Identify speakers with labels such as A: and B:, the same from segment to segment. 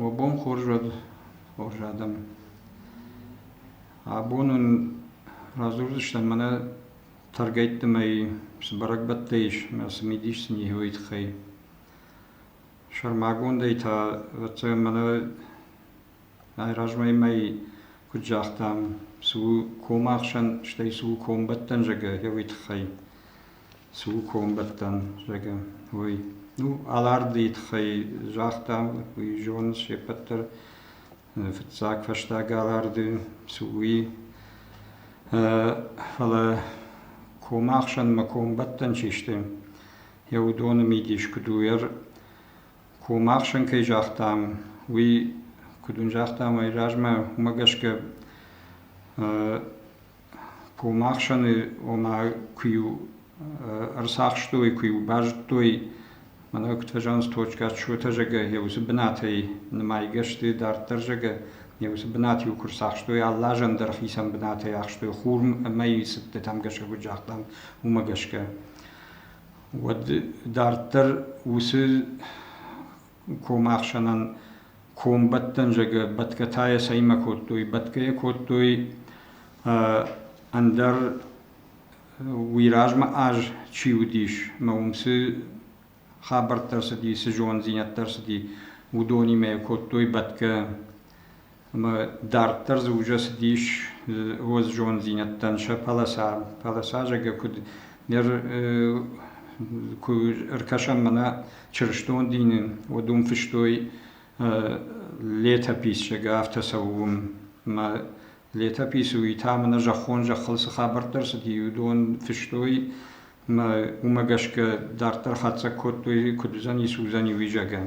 A: Уӕ бон хорз уӕд хорз адӕм. Абон уын радзурдзыстӕм мӕнӕ тӕргӕйтты мӕй цы бӕрӕгбӕттӕ ис ӕмӕ цы мидис сын ис уый тыххӕй. Сӕрмагондӕй та, ӕвӕццӕгӕн, мӕнӕ райразмӕ мӕй куыд загътам, цы у комахсӕн, стӕй цы у комбӕттӕн зӕгӕ, йӕ уый тыххӕй. цы у комбӕттӕн, зӕгъӕм, уый. Ну, Аларды тыххӕй загъта, уый зоны се ппӕт дӕр. Фыццаг фӕстаг Аларды цы уи. Фӕлӕ комы ӕхсӕнмӕ комбӕттӕн чи сты, йӕ уыдоны мидис куыд у? Комы ӕхсӕн кӕй загътам, уый куыд уын загътам, ай размӕ уымӕ гӕсгӕ Комахсӕны ома куы-иу ӕрцахстой, куы-иу базыдтой, мӕнӕ куыд фӕзӕгъынц, точка отсчета зӕгӕ, йӕ уыцы бынатӕй нымайгӕ сты, дарддӕр зӕгӕ, йӕ уыцы бынат-иу куы рцахстой, алы азӕн дӕр хицӕн бынатӕй ахстой хурм ӕмӕ цыдтытӕм гӕсгӕ куыд загътам, уымӕ гӕсгӕ. Уӕд дарддӕр уыцы комахсӕнӕн комбӕттӕн зӕгӕ бӕтгӕтӕ йӕ цӕимӕ кодтой? Бӕтгӕ йӕ кодтой ӕндӕр уый размӕ аз чи уыдис ӕмӕ уым цы хабӕрттӕ ӕрцыди, цы зонддзинӕдтӕ ӕрцыди, уыдонимӕ йӕ кодтой бӕтгӕ. ӕмӕ дарддӕр дзы ужӕ цыдис уоззонддзинӕдтӕн сӕ пӕлӕсӕ. Пӕлӕсӕ зӕгӕ куд нер куд ӕркӕсӕм мӕнӕ чырыстон дини, уӕд уым фыстой летописьщӕгӕ афтӕ цӕуы ӕмӕ летописы уый та мӕнӕ зӕххон зӕххыл цы хабӕрттӕ рцыди, уыдон фыстой ӕмӕ уымӕ гӕсгӕ дарддӕр хатдзӕг кодтой, куыд уыдзӕни, цы уыдзӕни, уый зӕгӕ.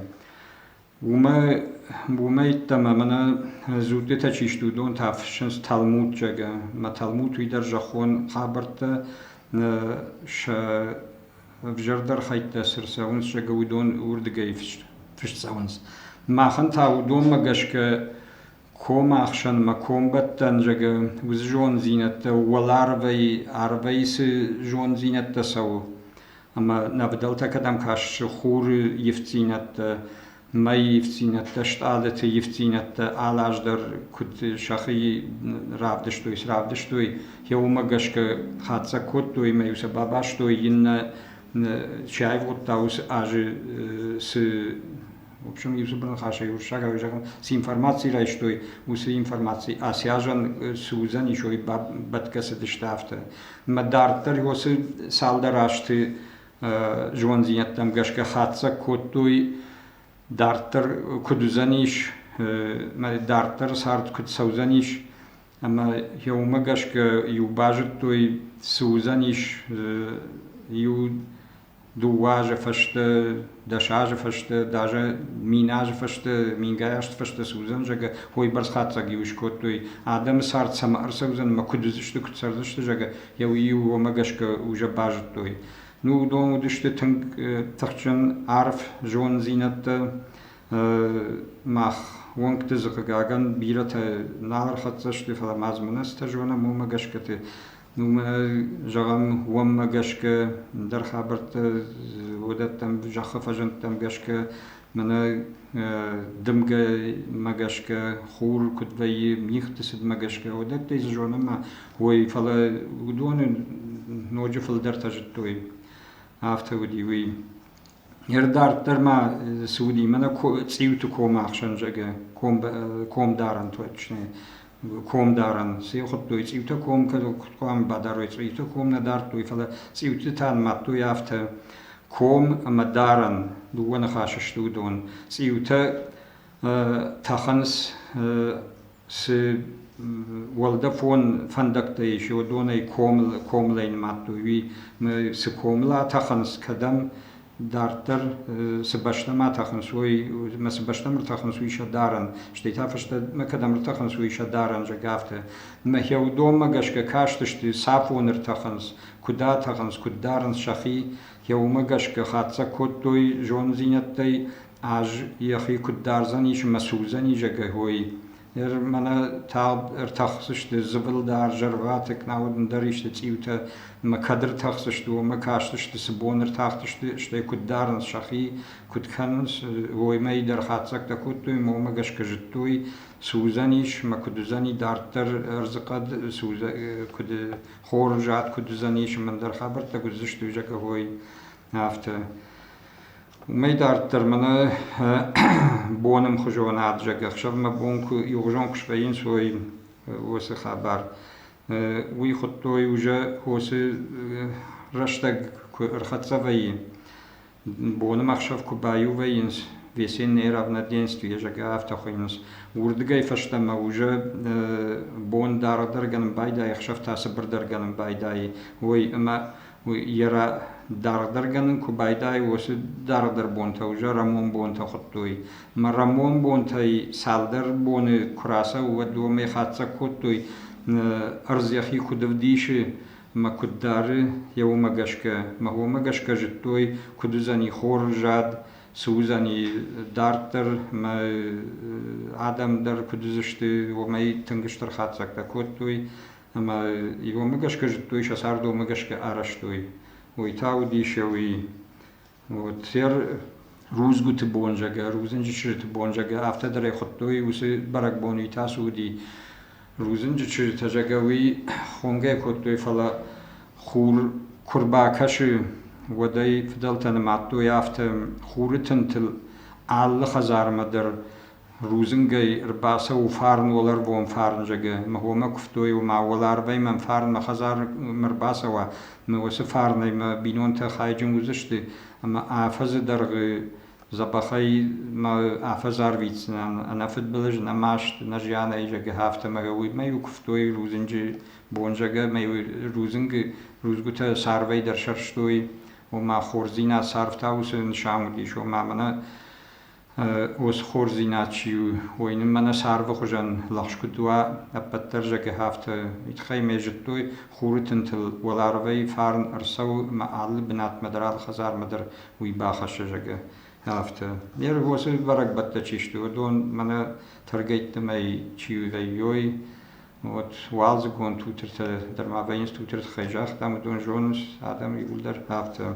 A: Уомӕ йеддӕмӕ мӕнӕ дзуттитӕ чи сты, уыдон та фыссынц талмудчъагӕ. Мӕ талмуд уый дӕр зӕххон хабӕрттӕ сӕ ӕвзӕрдӕр хӕйттӕ цы рцӕуынц зӕгъы, уыдон уырдыгӕй фыст цӕуынц. Махӕн та уыдонмӕ гӕсгӕ комы ӕхсӕн мӕ комбӕттӕн зӕгъы уыцы зонддзинӕдтӕ уӕларвӕй арвӕй цы зонддзинӕдтӕ цӕуы ӕмӕ нӕ фыдӕлтӕ кӕдӕм кӕссы хуры ивддзинӕдтӕ мӕйы ивддзинӕдтӕ стъалыты ивддзинӕдтӕ алаз дӕр куыд сӕхи равдыстой сравдыстой йӕ уымӕ гӕсгӕ хатдзӕг кодтой ӕмӕ-иу сӕ бабастой иннӕ чи аивгъуыдта уыцы азы цы В общем, иу цыбӕл хӕсса, уруссаг ӕви зӕгъӕн, цы информаци райстой, уыцы информаци Асиазӕн цы уыдзӕн, исой бӕтгӕ цыдысты афтӕ. Мӕ дарддӕр уоцы цалдӕр азты зондзинӕдтӕм гӕсгӕ хатдзӕг кодтой, дарддӕр куыд уыдзӕнис, мӕ дарддӕр цард куыд цӕудзӕнис, ӕмӕ йӕ уымӕ гӕсгӕ иу базыдтой, цы уыдзӕнис иу дыууӕ азы фӕстӕ, дӕс азы фӕстӕ, даже мин азы фӕстӕ, мингай азты фӕстӕ цы уыдзӕн, зӕгъгӕ, уойбӕрц хатдзӕг иу скодтой, адӕмы цард цӕмӕ ӕрцӕудзӕн ӕмӕ куыд уыдзысты, куыд цӕрдзысты, зӕгъгӕ, йӕ уый-иу уомӕ гӕсгӕ уже базыдтой. Ну, уыдон уыдысты тынг тыхджын арф зонддзинӕдтӕ. Мах уӕнгты дзы хъыгагӕн бирӕтӕ нал ӕрхӕццӕ сты, фӕлӕ ма дзы мын азтӕ зонӕм, уымӕ гӕсгӕ ты Уымӕ, зӕгъӕм, уӕммӕ гӕсгӕ дӕр хабӕрттӕ уыдӕттӕм, зӕххы фӕзӕнттӕм гӕсгӕ мӕнӕ дымгӕмӕ гӕсгӕ, хур куыд вӕййы, мигъты цыдмӕ гӕсгӕ, уыдӕттӕй дзы зонӕм ой, фӕлӕ уыдоны ноджы фылдӕртӕ зыдтой. Афтӕ уыди уый. Не рдарддӕр ма цы уыди, мӕнӕ цъиуты комы ӕхсӕн зӕгъгӕ комдарӕн точно комдарӕн. Цы йыл хуыдтой? Цъиутӕ ком кӕд хъуамӕ бадарой, цъиутӕ ком нӕ дардтой, фӕлӕ цъиуты та нымадтой афтӕ ком ӕмӕ дарӕн. Дыууӕ ныхасы сты уыдон. Цъиутӕ тӕхынц Цы уӕлдӕфон фӕндӕгтӕ ис, уыдонӕй комылӕй нымадтой. Уый цы комыл атӕхынц, кӕдӕм дарддӕр цы бӕстӕмӕ тӕхынц, уый, ӕмӕ цы бӕстӕмӕ ӕртӕхынц, уый сӕ дарӕн. Стӕй та фӕстӕмӕ кӕдӕм ӕртӕхынц, уый сӕ дарӕн, зӕгъгӕ, афтӕ. Мӕхе уыдонмӕ гӕсгӕ кастысты, цафон ӕртӕхынц, куыд атӕхынц, куыд дарынц сӕхи. Йӕ уымӕ гӕсгӕ хатдзӕг кодтой зонддзинӕдтӕй ӕз йӕхи куыд дардзӕнис мӕ судзӕнизӕгӕй, ныр мӕнӕ тагъд ӕртӕхдзысты зыбыл дӕр, зӕрваты, кнауд ӕндӕр исты цъиутӕ мӕ кӕд ӕртӕхдзысты, уымӕ кастысты, цы бон ӕртахтысты, стӕй куыд дарынц сӕхи, куыд кӕнынц, уоймӕ дӕр хатдзӕгтӕ кодтой, мӕнмӕ гӕсгӕ зыдтой, судзӕнис мӕ куыд уыдзӕни, дарддӕр ӕрдзыхъӕд судзӕ куыд хоры зад куыд уыдзӕнис, ӕндӕр хабӕрттӕ куыд уыдзысты, зӕгъгӕ, афтӕ. Уымӕй дарддӕр мӕнӕ бонӕмхуызон ӕвзаг ӕхсӕвмӕ бон иугъуызон куы свӕййынц уой уыцы хабар. Уый хуыдтой уже уыцы рӕстӕг куы ӕрхӕццӕ вӕййы. Бонӕмӕхсӕв куы баиу вӕййынц, весеннее равноденствие зӕгъгӕ, афтӕ хуыйынц. Уырдыгӕй фӕстӕмӕ уже бон дардӕр гӕнӕн байдайы, ӕхсӕв та цыбырдӕр гӕнӕн байдайы. Ой ӕмӕ Йӕ дарддӕр гӕнӕн куы байдайы, уыцы дарддӕр бонтӕ уже рӕмон бонтӕ хуыдтой. Ӕмӕ рӕмон бонтӕй цалдӕр боны куы рацӕуы, уӕд уымӕй хатдзӕг кодтой, ӕрдз йӕхи куыд ӕвдисы ӕмӕ куыд дары, йӕ уымӕ гӕсгӕ. Ӕмӕ уымӕ гӕсгӕ зыдтой, куыд уыдзӕни хор зад, цы уыдзӕни дарддӕр ӕмӕ адӕм дӕр куыд уыдзысты, уымӕй тынг стыр хатдзӕгтӕ кодтой. ӕма иуомӕ гӕсгӕ зудтой, сӕ цардомӕ гӕсгӕ арӕзтой. Уой та удисеуи уотер рудзгути бонзагӕ, рудзинджи чызджити бонзагӕ, афтӕ дӕр ӕй худтой, уци бӕрӕгбони тасуди рудзинджи чызджитӕ зӕгӕ уи хонгӕ кодтой, фӕлӕ хур ку рбакӕси, уӕд ӕй фидӕлтӕ нымадтой, афтӕ хуры тынтыл алы хӕдзармӕ дӕр Рудзынгӕй ӕрбацӕуы фарн уӕларвон фарнзӕгы, мӕ хомӕ куывтой у, мӕ уӕларвӕй мӕм фарн мӕ хӕдзармӕ ӕрбацӕуа, мӕ уыцы фарнӕй мӕ бинонтӕ хайджын уыдзысты ӕмӕ афӕдзы дӕргъы дзӕбӕхӕй мӕ афӕдз арвитдзынӕн ӕнӕфыдбылыз, нӕ маст, нӕ зианӕй зӕгъы, афтӕмӕй. Уымӕ-иу куывтой рудзынджы бонзӕгӕ, мӕ-иу рудзынгы рудзгуытӕ царвӕй дӕр сӕрстой, ома хорздзинад царв та уыцы нысан уыдис, ома мӕнӕ уыцы хорздзинад чи у, уый нын мӕнӕ царды хуызӕн лӕгъз куыд уа, ӕппӕт дӕр зӕгӕ афтӕ. Итхӕй мӕ зыдтой, хуры тынтыл уӕларвӕй фарн ӕрцӕуы мӕ алы бынатмӕ дӕр, алы хӕдзармӕ дӕр уый бахӕссы, зӕгӕ, афтӕ. Ме рвосы бӕрӕгбӕттӕ чи сты, уыдон мӕнӕ тӕргӕйттымӕй чи вӕййой, вот уалдзыгон тутыртӕ дӕр ма вӕййынц, тутырты тыххӕй загътам, уыдон зонынц адӕм иууылдӕр афтӕ.